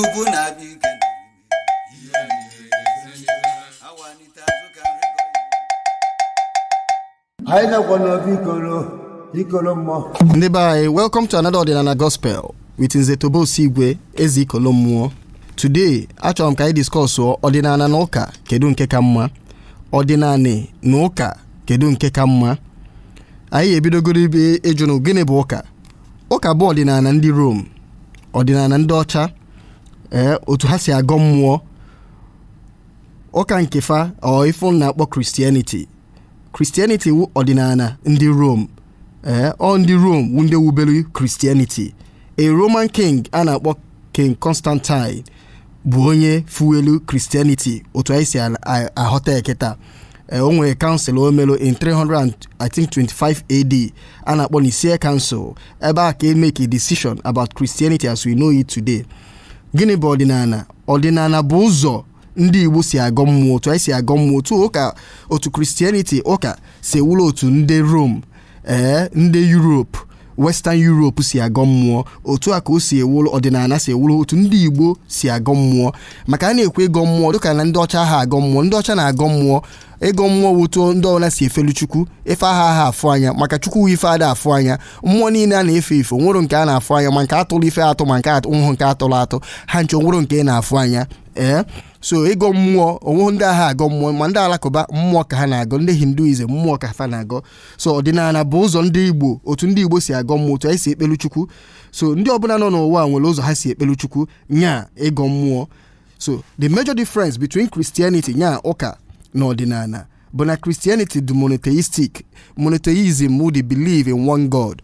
ukwu na-abịa ike awanite azụ ka nri gọọ. anyị nakwa n'obi ikoro ikoro mmụọ ndị be anyị welcome to another ọdịnala gospel with nze tobe osigwe eze ikolo mmụọ today achọrọ m ka anyị discuss ọdịnala na ụka kedu nke ka mma ọdịnala na ụka kedu nke ka mma anyị ebidogoro ibe ịjụnụ gịnị bụ ụka ụka bụ ọdịnala ndị Rom ọdịnala ndị ọcha ee otu ha si agọ mmụọ ụka nke fa ọ ife ụnụ na-akpọ Christianity Christianity wụ ọdịnala ndị Rom ee ọ ndị Rom wụ ndị wubelu Christianity a Roman king a na-akpọ King Constantine bụ onye fuelu Christianity otu anyị si a- a- aghọta ya kịta Eh, o nwere council o melu in 300 and I think 25 AD a na-akpọ Nicaea Council ebe a ka e make a decision about Christianity as we know it today gịnị bụ ọdịnala ọdịnala bụ ụzọ ndị igbo si agọ mmụọ otu anyị si agọ mmụọ otu ụka otu christianity ụka si ewuru otu ndị rom ee eh, ndị europe western europe si agọ mmụọ otu a ka o si ewuru ọdịnala si ewuru otu ndị igbo si agọ mmụọ maka a na-ekwu ịgọ mmụọ dịka na ndị ọcha aha agọ mmụọ ndị ọcha na-agọ mmụọ ịgọ mmụọ wu otu ndị ọbụla si efelu chukwu ife aha aha afụ anya maka chukwu ife ada afụ anya mmụọ niile a na-efe efe nwerọ nke a na-afụ anya ma nke atụrụ ife atụ ma nke na-awụrọ nke atụrụ atụ ha ncha nwerọ nke ị na-afụ anya ee so ịgọ mmụọ onweghị ndị aha agọ mmụọ ma ndị alakụba mmụọ ka ha na-agọ ndị hinduism mmụọ ka fa na-agọ so ọdịnala bụ ụzọ ndị igbo otu ndị igbo si agọ mmụọ otu anyị si ekpelu chukwu so ndị ọbụla nọ n'ụwa a nwere ụzọ ha si ekpelu chukwu nya ịgọ mmụọ so the major difference between christianity nya ụka na ọdịnala bụ na christianity dị monotheistic monotheism wụ the belief in one god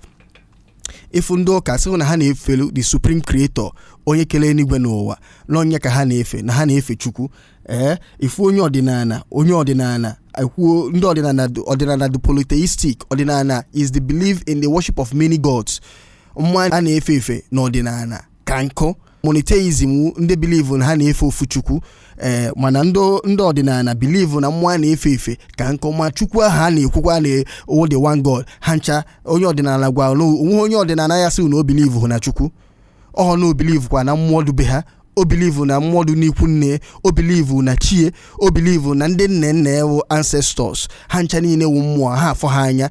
ị fụ ndị ụka sị ghụ na ha na-efelu the supreme creator onye kere eluigwe na ụwa na ọ nya ka ha na-efe na ha na-efe chukwu ee ị fụ onye ọdịnala onye ọdịnala ekwuo ndị ọdịnala dị- ọdịnala dị polytheistic ọdịnala is the belief in the worship of many gods mmụọ a na-efe efe n'ọdịnala ka nkụ monotheism wu ndị believe na ha na-efe ofu chukwu ee mana ndị ndị ọdịnala believe na mmụọ a na-efe efe ka nkụ ma chukwu ahụ a na-ekwukwa na ọ wu the one god ha ncha onye ọdịnala gwara na onwe onye ọdịnala ya-asị na o believe họ na chukwu ọ na o believe kwa na mmụọ dụ be ha o believe na mmụọ dị n'ikwu nne o believe na chi e o believe na ndị nna nna e wu ancestors ha ncha niile wu mmụọ aha afụ ha anya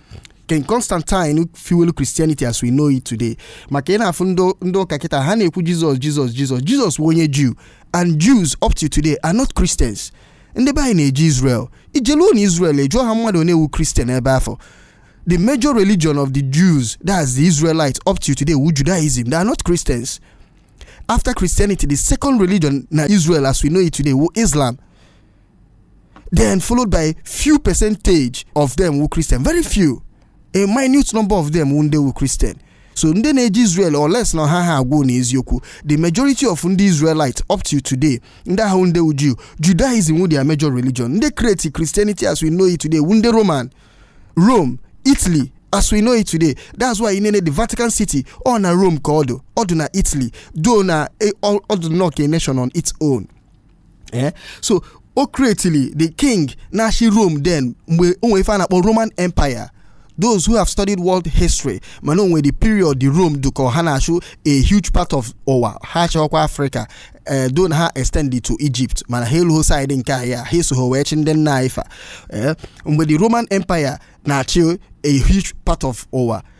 King Constantine fuel Christianity as we know it today maka ị na-afụ ndị- ndị ụka kịta ha na-ekwu Jizọs Jizọs Jizọs Jizọs wu onye Jew and Jews up to today are not Christians ndị be anyị na-eje Israel i jeluo na Israel ị jụọ ha mmadụ one wu Christian ebe afụ the major religion of the Jews that's the Israelites up to today wu Judaism they are not Christians after Christianity the second religion na Israel as we know it today wu Islam then followed by few percentage of them wu christian very few a minute number of them wu ndị wu christian so ndị na-eje israel unless na ha ha agwa unu eziokwu the majority of ndị israelite up to today ndị ahụ ndị wu jew judaism wu their major religion ndị create christianity as we know it today wu ndị roman rome italy as we know it today that's why i nene the vatican city ọ na rome ka ọ dụ ọ dụ na italy though na ọ dụ nnọọ ka a nation on its own eh? so o creatili the king na-achị Rome then mgbe o nwere ife a na-akpọ Roman Empire those who have studied world history ma na o nwe the period ndị Rome dụ ka ha na-achị a huge part of ụwa ha chịkwa Africa eh, though na ha extended to Egypt mana ha eluho side nke anyị ha esoho wee chị ndị nna anyị fa eh, mgbe the Roman Empire na-achị a huge part of ụwa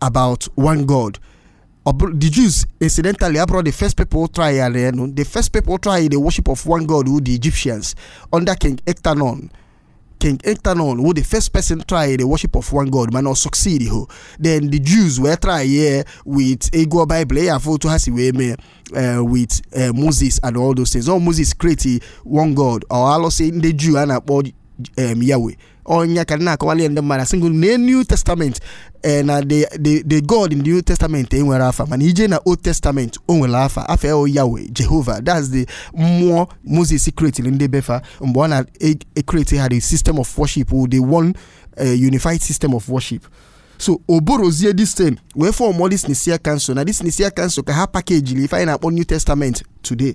about one god Ọ bụrụ- the jews incidentally abụrọ the first people try ya enu the first people try the worship of one god wu the egyptians under king ectanon king ectanon wu the first person try the worship of one god mana ọ succeed ho then the jews wee try ya with ị gụọ bible ị ya-afụ otu ha si wee mee eh, with eh, moses and all those things ọ moses create one god ọ alụsị ndị jew a na-akpọ em, yahweh ọ nya ka a na-akọwali ndị mmadụ asị na new testament ee na the the the god in the new testament enwerọ afa mana i je na old testament o nwere afa afa ya yahweh jehovah that's the mmụọ moses creatiri ndị be fa mgbe ọ na-ekreti ha the system of worship the one unified system of worship so ọ bụrụzie this thing wee fọmụọ this nicaea council na this nicaea council ka ha pakejiri ife anyị na-akpọ new testament today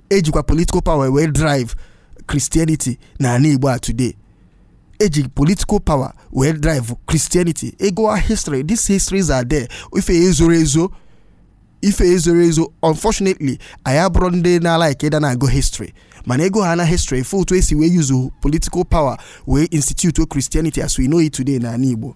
e jikwa political power wee drive christianity na ana igbo a today e ji political power wee drive christianity ị gụwa history these histories are there ife e zoro ezo ife e zoro ezo unfortunately anyị abụrọ ndị na-alaik ịda na-agụ history mana ị gụọ ha na history fụ otu e si wee yuzu political power wee institute christianity as we know it today na ana igbo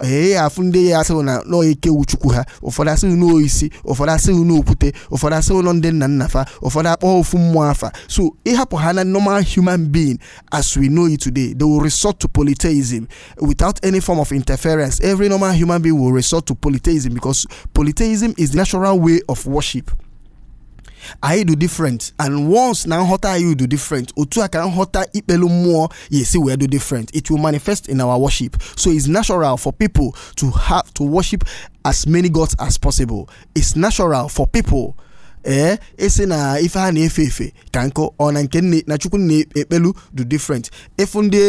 ị ya-afụ ndị ya-asị gị na na ọ eke wu chukwu ha ụfọdụ asị gị na ọ isi ụfọdụ asị gị na ọ okwute ụfọdụ asị gị na ọ ndị nna nna fa ụfọdụ akpọ ofu mmụọ afa so ị hapụ ha na normal human being as we know it today they will resort to polytheism without any form of interference every normal human being will resort to polytheism because polytheism is the natural way of worship anyị dị different and once na nghọta anyị dị different otu a ka nghọta ikpelu mmụọ ya-esi wee dị different it will manifest in our worship so it's natural for people to have to worship as many gods as possible it's natural for people ee esi na ife ha na-efe efe ka nkụ ọ na nke nne na chukwu na-ekpelu dị different ị fụ ndị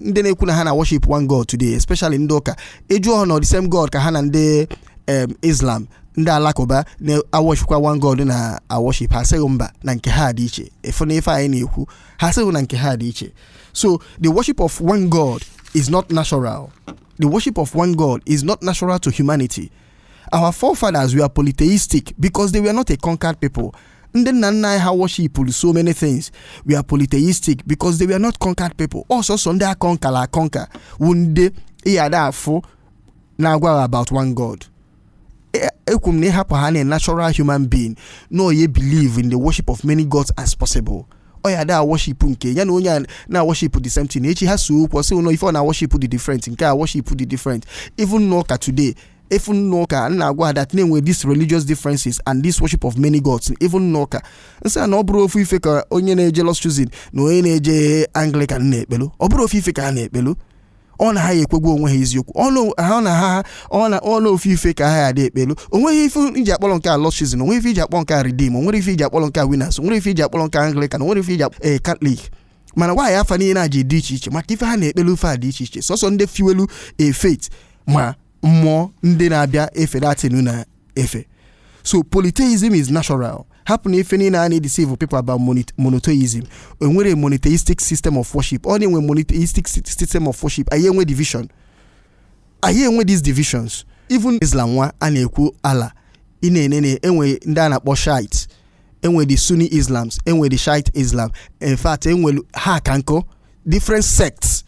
ndị na-ekwu na ha na worship one god today especially ndị ụka ị jụọ ha na the same god ka ha na ndị em islam ndị alakụba na-worshipkwa one god na worship ha sị gị mba na nke ha dị iche ị fụna ife anyị na-ekwu ha sị gị na nke ha dị iche so the worship of one god is not natural the worship of one god is not natural to humanity our forefathers were polytheistic because they were not a conquered people ndị nna nna anyị ha worshipụrụ so many things were polytheistic because they were not conquered people ọ sọsọ ndị a conquerara conquer wụ ndị ị ya da afụ na-agwa ha about one god ekwu m na ị hapụ ha na natural human being na ọ ya-ebelieve in the worship of many gods as possible ọ ya da worship nke ya na onye a na worship the same thing echi ha see okwu sị na ife ọ na worship dị different nke a worship dị different even n'ụka today even n'ụka nna agwa ha that na-enwe these religious differences and this worship of many gods even n'ụka m sị na ọ bụrọ ofu ife ka onye na-eje lord's chosen na onye na-eje anglican na-ekpelu ọ bụrọ ofu ife ka ha na-ekpelu ọ na ha ya ekwe gwa onwe ha eziokwu ọnụ ha na ha ọ na ọnụ ofu ife ka ha ya da ekpelu onweghị ife e ji akpọrọ nke a lord's chosen onweghị ife e ji akpọrọ nke a redeem onwerọ ife e ji akpọrọ nke a winners onwerọ ife e ji akpọrọ nke a anglican onwerọ ife e ji akpọrọ ee catholic mana why afa niile a ji dị iche iche maka ife ha na-ekpelu ife a dị iche iche sọsọ ndị fiwelu efet ma mmụọ ndị na-abịa efe that thing na efe so polytheism is natural hapụ na ife niile a na-edeceive people about mono- monotheism enwerọ monotheistic system of worship ọ na-enwe monotheistic sy- system of worship anyị enwe division anyị enwe these divisions even islam nwa a na-ekwu allah ị na-enene enwe ndị a na-akpọ shiite enwe the sunni islams enwe the shiite islam in fact enwe ha ka nkụ different sects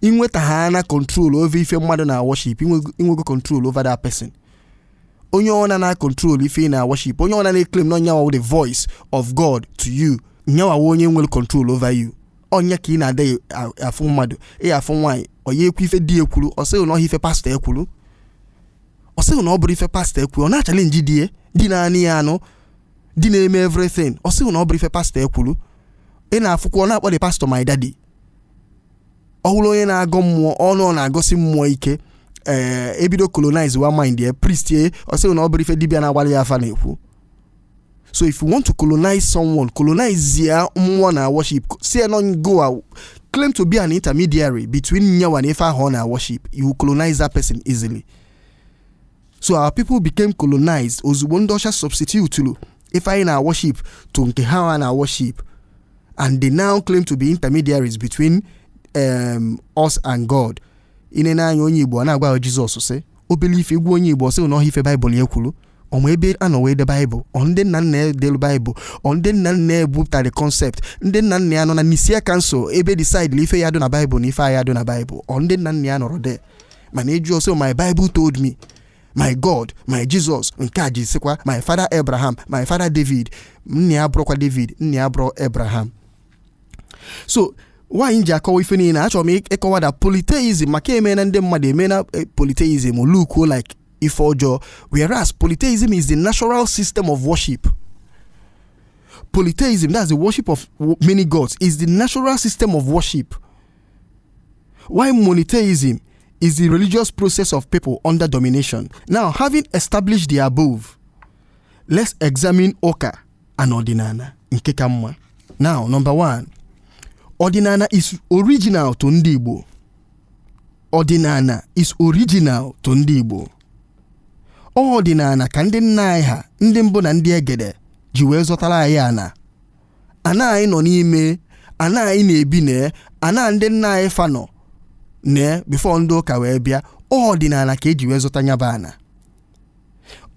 i nwetahana control over ife mmadụ na worship i nwego control over that person onye ọna na control ife ị na worship onye ọna na-eclaim na ọ nyanwa the voice of God to you nyawa wụ onye nwere control over you ọ nya ka ị na-adị afụ mmadụ ị afụ nwaanyị ọ ya-ekwe ife di ekwuru ọ sị gị na ọ wụ ife pastor ekwuru ọ sị gị na ọ bụrọ ife pastor ekwuru ọ na-achallenge di ya di na-anụ ya anụ di na-eme everything ọ sị gị na ọ bụrọ ife pastor ekwuru ị na-afụkwa ọ na-akpọ the pastor my daddy ọ bụrụ onye na-agọ mmụọ ọnụ ọ na-agọsi mmụọ ike ee ebido colonizewa mind ya priest ya ọ sị gị na ọ bụrọ ife dibịa na-agbalụ ya afa na-ekwu so if you want to colonize someone colonize ya mmụọ ọ na worship sị ya na ọ ngị a- claim to be an intermediary between nyawa na ife ahụ ọ na worship you will colonize that person easily so our people became colonized ozugbo ndị ọcha substitutulu ife anyị na-worship to nke ha na-worship and they now claim to be intermediaries between um, us and god i nee anya onye igbo a na-agwa jizọs sị obele ife egwu onye igbo sị na ọ ife baịbụl ya kwuru ọ ma ebe a nọ wee de baịbụl ọ ndị nna nna ya delu baịbụl ọ ndị nna nna ya ebupụtara concept ndị nna nna ya nọ na nicaea council ebe e decide-ịlị ife ya-adụ na baịbụl na ife aya-adụ na baịbụl ọ ndị nna nna ya nọrọ there mana ị jụọ ọ sị my bible told me my god my jesus nke a ji sịkwa my father abraham my father david nna ya abụrọkwa david nna ya abụrọ abraham so why m ji akọwa ife niile achọrọ m ịkọwa that polytheism maka eme na ndị mmadụ eme na eh, polytheism look-uo like ife ọjọọ whereas polytheism is the natural system of worship polytheism that's the worship of wo- many gods is the natural system of worship While monotheism is the religious process of people under domination. Now, having established the above, let's examine ụka and ọdịnana nke ka mma. Now, number one, ọdịnana is original to ndị Igbo. Ọdịnana is original to ndị Igbo. Ọ ọdịnana ka ndị nna anyị ha ndị mbụ na ndị egede ji wee zọtara anyị ana ana anyị nọ n'ime ana anyị na-ebi na ana ndị nna anyị fa nọ na before ndị ụka wee bịa ọdịnana ka eji wee zọta nya bụ ana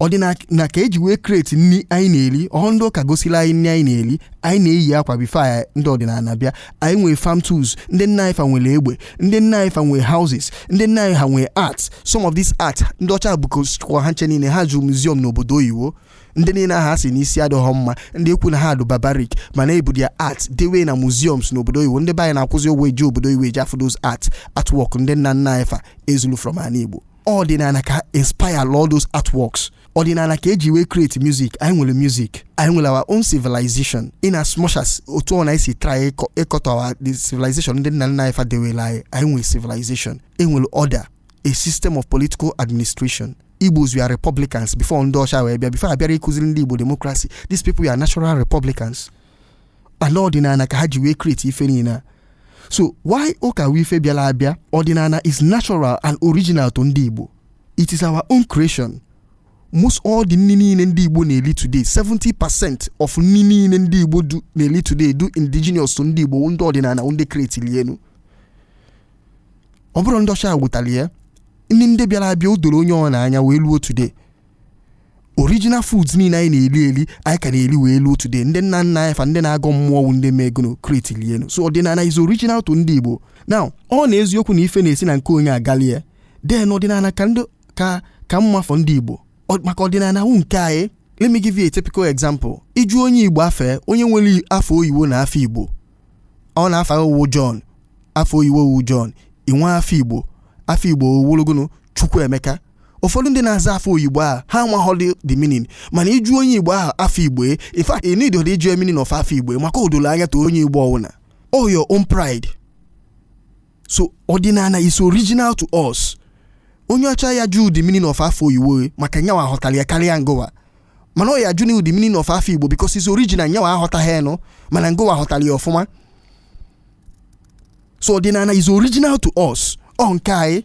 ọdịnana ka eji wee create nri anyị na-eri ọ họ ndị ụka gosiri anyị nri anyị na-eri anyị na-eyi akwa before anyị ndị ọdịnana bịa anyị nwere farm tools ndị nna anyị fa nwere egbe ndị nna anyị fa nwere houses ndị nna anyị ha nwere art some of these art ndị ọcha bukwa ha ncha niile ha juru museum n'obodo oyibo ndị niile ahụ a sị na isi adịghọ mma ndị ekwu na ha dụ barbaric mana e bu their art dewe na museums n'obodo oyibo ndị be anyị na-akwụzi ụgwọ eje obodo oyibo eje afụ those art artwork ndị nna nna anyị fa e zulu from ana igbo ọdịnana ka inspire all those artworks ọdịnana ka eji wee create music anyị nwere music anyị nwere our own civilization in as much as otu ọbụna e si try ịkọ- ịkọtọ our the civilization ndị nna nna anyị fa dewelu anyị anyị nwere civilization enwere order a system of political administration igbos we are republicans before ndị ọcha wee bịa before a bịara ịkụziri ndị igbo democracy these people we are natural republicans and ọdịnana ka ha ji wee create ife niile a. so while ụka wụ ife bịara abịa ọdịnana is natural and original to ndị igbo it is our own creation most all the nri niile ndị igbo na-eli today 70 percent of nri niile ndị igbo dụ- na-eli today dụ indigenous to ndị igbo ndị ọdịnana ndị create elu ọ bụrọ ndị ọcha wetara ya ndị ndị bịara abịa o doro onye ọwụna anya wee luo today original foods niile anyị na-eri eri anyị ka na-eri wee luo today ndị nna nna anyị fa ndị na-agọ mmụọ wụ ndị mee gono create lienu so ọdịnala is original to ndị igbo now ọ na eziokwu na ife na-esi na nke onye agalie then ọdịnala ka ndị ka ka mma for ndị igbo Ọ- maka ọdịnala wụ nke anyị let me give you a typical example ị jụ onye igbo afa onye nwere afa oyibo na afa igbo ọ na afa o wụ John afa oyiwo o wụ John i nwee afa Igbo afa Igbo o wụlụgonu Chukwuemeka ụfọdụ ndị na-aza afa oyibo a ha amaghọdị the meaning mana ị jụ onye Igbo ahụ afa Igbo in fact ị need ịjụ meaning of afa Igbo maka o dolo anya to onye Igbo ọwụna ọ your own pride so ọdịnala is original to us onye ọcha aya ajụ the meaning of afa oyiwo maka nyawa ghọtara ya karịa ngowa mana ọ ya-ajụ na the meaning of afa igbo because it's original nyawa aghọtaghị ya nụ mana ngowa ghọtara ya ọfụma so ọdịnala is original to us ọ nke anyị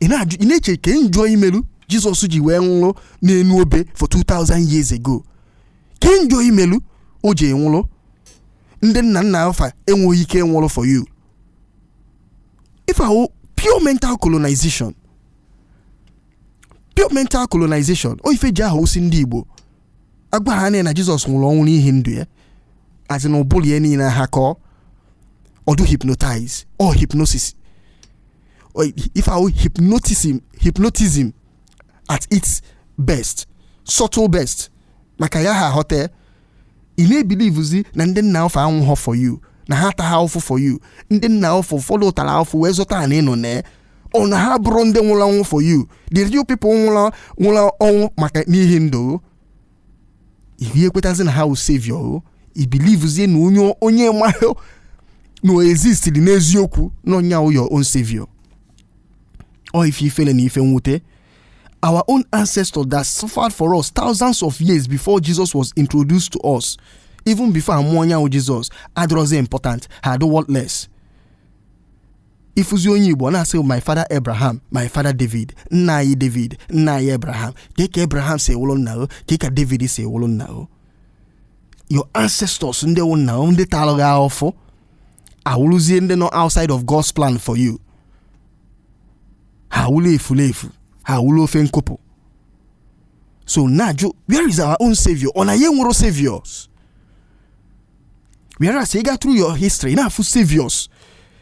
ị na-ajụ ị na-eche kee njọ i melu jizọs ji wee nwụrụ n'enu obe for 2000 years ago kee njọ i melu o ji nwụrụ ndị nna nna o fa enweghị ike nwụrụ for you ife a wụ pure mental colonization pure mental colonization ọ ife e ji aha osi ndị igbo agwa ha na jizọs nwụrụ ọnwụ n'ihi ndụ ya as in ụbụrụ ya niile ha kọọ ọ dụ hypnotize ọ hypnosis ọ ife a wụ hypnotism, hypnotism at its best, subtle best, maka ị ya-aghọta ya, ị na-ebilivuzi na ndị nna o fa anwụghọ for you na ha ataha afụfụ for you ndị nna o fa ụfọdụ tara afụfụ wee zụta ana ị nọ na ya ọ na ha abụrọ ndị nwụrụ anwụ for you the real people nwụrụ nwụrụ ọnwụ maka n'ihi ndụ ihe ekwetazi na ha wụ savior o i bilivuzie na onye onye ị marọ na o existiri n'eziokwu na nya wụ your own savior ọ ife ifele na ife mwute our own ancestor that suffered for us thousands of years before jesus was introduced to us even before a mụọ onye wụ jesus adịrọzi important ha adụ worthless ị fụzi onye igbo na-asị my father abraham my father david nna anyị david nna anyị abraham kee ka abraham si wee wụrụ nna o kee ka david si wee wụrụ nna o your ancestors ndị wụ nna o ndị tara gị ahụfụ awụrụzie ndị nọ outside of god's plan for you ha awụla efulefu ha awụla ofe nkụpụ so na-ajụ where is our own savior ọ na anyị enwero saviors whereas ị gaa through your history ị na-afụ saviors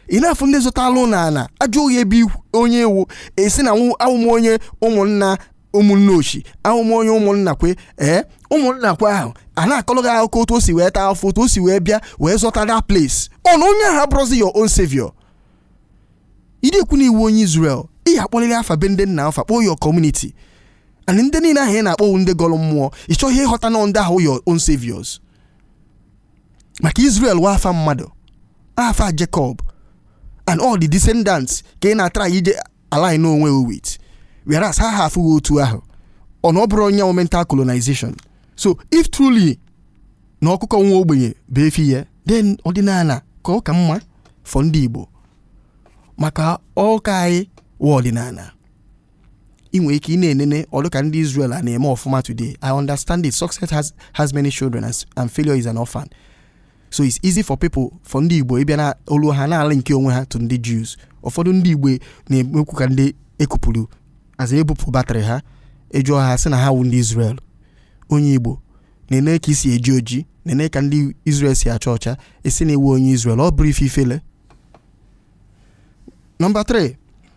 ị na-afụ ndị zọtalụ na ala a jụọ gị ebe ikwu- onye ị wụ ị sị na nwụ- awụ m onye ụmụnna ụmụnna ochi awụ m onye ụmụnna kwe ee ụmụnna kwe ahụ a na-akọlụ gị akụkọ otu o si wee taa afụfụ otu o si wee bịa wee zọta that place ọ na onye ahụ abụrọzi your own savior ị na-ekwu na ị wụ onye Israel ị ya akpọlịrị afa be ndị nna afa kpọọ your community and ndị niile ahụ ị na-akpọ wụ ndị gọlụ mmụọ ị chọghị ịghọta na ndị ahụ your own saviors maka Israel wụ afa mmadụ afa Jacob and all the descendants ka ị na-atry iji align onwe with whereas ha ha afụghị otu ahụ ọ na ọ bụrọ ya wụ mental colonization so if truly na ọkụkọ nwa ogbenye bụ efi ya then ọdịnana ka ọ ka mma for ndị Igbo maka ọ nke anyị wụ ọdịnana i nwe ike ị na-enene ọ dụ ka ndị Israel a na-eme ọfụma today I understand it success has, has many children and, and failure is an orphan so it's easy for people for ndị Igbo ịbịa na olu ha na-align onwe ha to ndị Jews ụfọdụ ndị Igbo na-emekwu ka ndị e kupụrụ as e bupụ batrị ha a jụọ ha sị na ha wụ ndị Israel onye Igbo na-ene ka i si eji oji na-ene ka ndị Israel si acha ọcha ị sị na ị wụ onye Israel ọ bụrọ ife ifele nọmba 3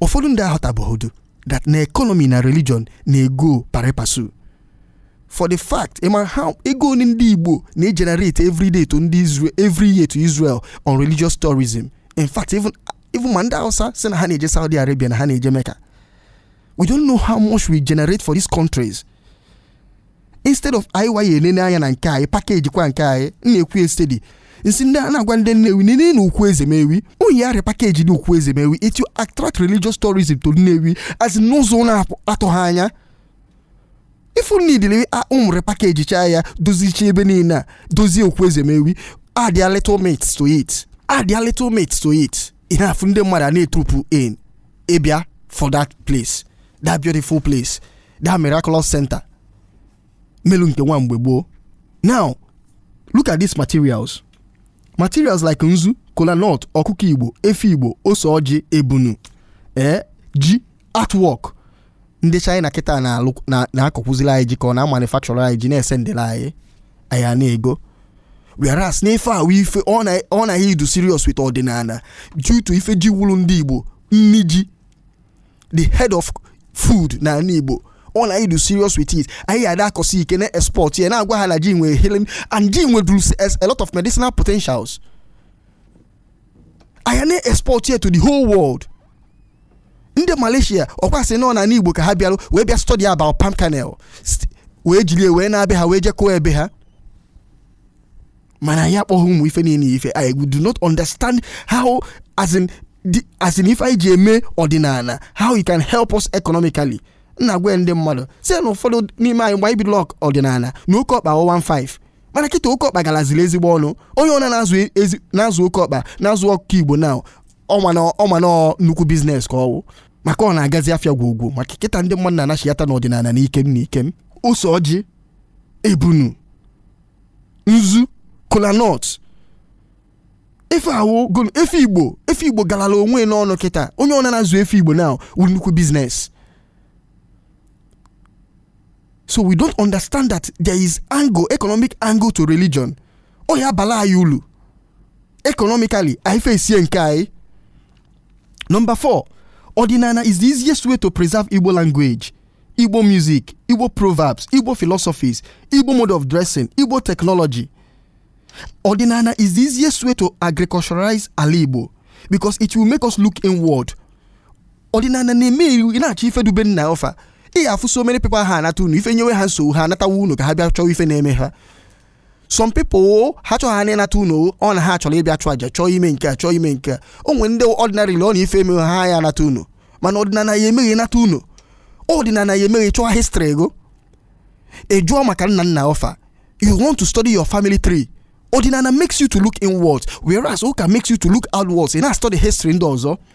ụfọdụ ndị aghọtabehọdụ that na economy na religion na-ego pari passu for the fact ị mara how ego one ndị Igbo na-egenerate every day to ndị Israel every year to Israel on religious tourism in fact even even ma ndị Hausa sị na ha na-eje Saudi Arabia na ha na-eje Mecca we don't know how much we generate for these countries instead of anyị wa ya enene anya na nke anyị package kwa nke anyị m na-ekwu ya steady m sị ndị a na-agwa ndị nnewi nene na okwu ezemewi oyi arịa package the okwu ezemewi it will attract religious tourism to nnewi as in n'ụzọ na-atụghị anya ifu nidile ụmụre package chaa ya dozichaa ebe niile a dozie okwu ezemewi add a little myths to it add a little myths to it ị na-afụ ndị mmadụ a na-etroop in ịbịa fụ that place that beautiful place that miraculous center melu nke nwa mgbe gboo now look at these materials materials like nzu kola nut ọkụkọ igbo efi igbo ose ọjị ebunu ee ji artwork ndị china kịta na-alụ na- na-akọkwuzila anyị ji ka ọ na-amanufacture anyị ji na-esendịla anyị anyị a na-ego whereas n'ife ahụ ife ọ na- ọ naghị idu serious with ọdịnana due to ife ji wụlụ ndị igbo nni ji the head of food na ala igbo ọ na anyị du serious with it anyị ada akọsi ike na export ya na-agwa ha na ji nwere healing and ji nweduru a lot of medicinal potentials anyị na export ya to the whole world ndị malaysia ọ kwa a sị na ọ na igbo ka ha bịarụ wee bịa study about palm kernel wee jiri wee naa be ha wee je kọọ ebe ha mana anyị akpọghị ụmụ ife niile ife i do not understand how as in the as in ife anyị ji eme ọdịnala how it can help us economically m na-agwa ndị mmadụ sị na ụfọdụ n'ime anyị mgbe anyị bidoro ọk- ọdịnala na oke ọkpa 15 mana kịta oke ọkpa galaziri ezigbo ọnụ onye ọna na-azụ ezi- na-azụ oke ọkpa na-azụ ọkụkọ igbo now ọ ma na ọ ma na nnukwu business ka ọ wụ maka ọ na-agazi afịa gwogwo maka kịta ndị mmadụ na-anachiyata n'ọdịnala n'ike n'ike ose ọjị ebunu nzu kolanut efi ahụgonu efi igbo efi igbo galala onwe n'ọnụ kịta onye ọ na-azụ efi igbo now wụ nnukwu business so we don't understand that there is angle economic angle to religion ọ ya abala anyị ulu economically anyị fesie nke anyị number four ọdịnala is the easiest way to preserve igbo language igbo music igbo proverbs igbo philosophies igbo mode of dressing igbo technology ọdịnala is the easiest way to agriculturalize ala igbo because it will make us look inward ọdịnala na-eme ị na-achọ ife du be nna ọ fa ị ya afụ so many people ha anata ụnọ ife nyewe ha nsogbu ha anatawa ụnọ ka ha bịa chọwa ife na-eme ha some people o ha chọghị ha n'ịnata ụnọ o ọ na ha chọrọ ịbịa chụ aja chọọ ime nke a chọọ ime nke a o nwere ndị ordinarily ọ na ife emeghị ha ya anata ụnọ mana ọdịnala ya eme gị nata ụnọ ọdịnala ya eme gị chọọ history gọ ị jụọ maka nna nna ọ fa you want to study your family tree ọdịnala makes you to look inwards whereas ụka makes you to look outwards ị na-study history ndị ọzọ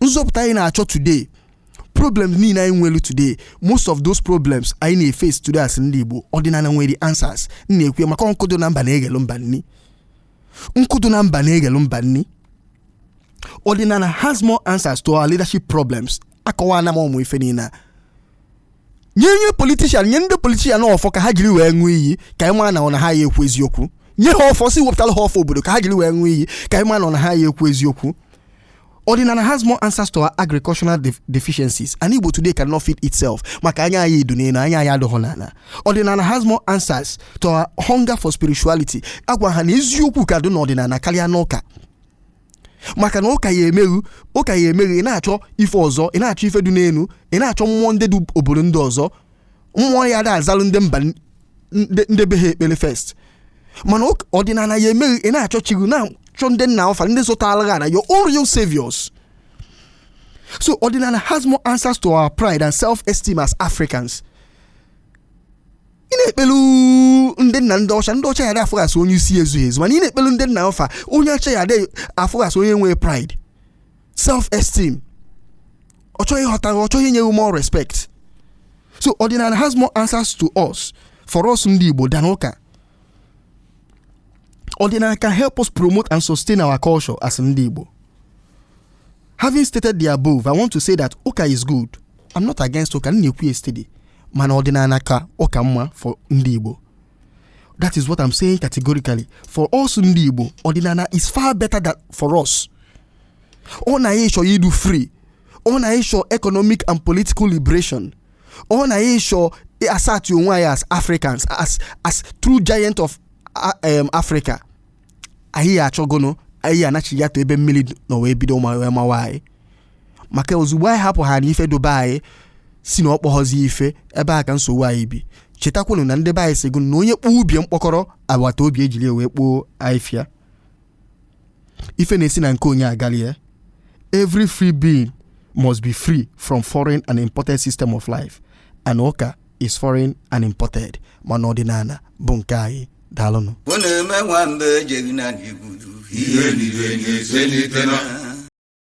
nzọpụta anyị na-achọ today problems niile anyị nwere today most of those problems anyị na-efes today as ndị igbo ọdịnala nwere answers m na-ekwu maka nkụ dụ na mba na-eghelu mba nni nkụ dụ na mba na-eghelu mba nni ọdịnala has more answers to our leadership problems akọwaana m ụmụ ife niile a nye nye politician nye ndị politician ọfọ ka ha jiri wee ṅụọ iyi ka anyị mara na ọ na ha ya ekwu eziokwu nye ha ọfọ sị wepụtara ha ọfọ obodo ka ha jiri wee ṅụọ iyi ka anyị mara na ọ na ha ya ekwu eziokwu ọdịnala has more answers to our agricultural def- deficiencies ana igbo today cannot feed itself maka anya anyị du n'elu anya anyị adọghọ n'ala ọdịnala has more answers to our hunger for spirituality agwa ha na eziokwu ka dị n'ọdịnala karịa n'ụka maka na ụka ya emeghu ụka ya emeghu ị na-achọ ife ọzọ ị na-achọ ife du n'enu ị na-achọ mmụọ ndị dị obodo ndị ọzọ mmụọ ya da azalụ ndị mba n- ndị ndị be ha ekpele first mana ụka- ọdịnana ya emeghu ị na-achọ chi gị na-achọ ndị nna ọfa ndị zọtara ana your own real saviors so ọdịnana has more answers to our pride and self-esteem as africans ị na-ekpelu ndị nna ndị ọcha ndị ọcha ya da afụ gị as onye isi ezughị ezu mana ị na-ekpelu ndị nna ọfa onye ọcha ya da afụ gị as onye nwe pride self esteem ọ chọọ ịghọta ọ chọọ inye gị more respect so ọdịnana has more answers to us for us ndị igbo than ụka ọdịnana can help us promote and sustain our culture as ndị igbo Having stated the above, I want to say that ụka is good. I'm not against ụka, m na-ekwu ya steady. Mana ọdịnana ka ụka mma for ndị Igbo. That is what I'm saying categorically. For us ndị Igbo, ọdịnana is far better than for us. Ọ na anyị chọọ idu free. Ọ na anyị chọọ economic and political liberation. Ọ na anyị chọọ assert onwe anyị as Africans, as, as true giant of uh, um, Africa. anyị achọgonụ anyị anachi ya to ebe mmili nọ wee bido mawa anyị maka ozugbo anyị hapụ ha na ife du be anyị si na ọ kpọghọzi ife ebe a ka nsogbu anyị bi chetakwanụ na ndị be anyị sịgo na onye kpọọ ọba ya mkpọkọrọ agbata obi ejili ya wee kpoo afịfịa ife na-esi na nke onye agali ya every free being must be free from foreign and imported system of life and ụka is foreign and imported mana ọdịnana bụ nke anyị daalụnụ ọ na-eme nwamba ejeghị na n'igwuru ihe nile na-eselite na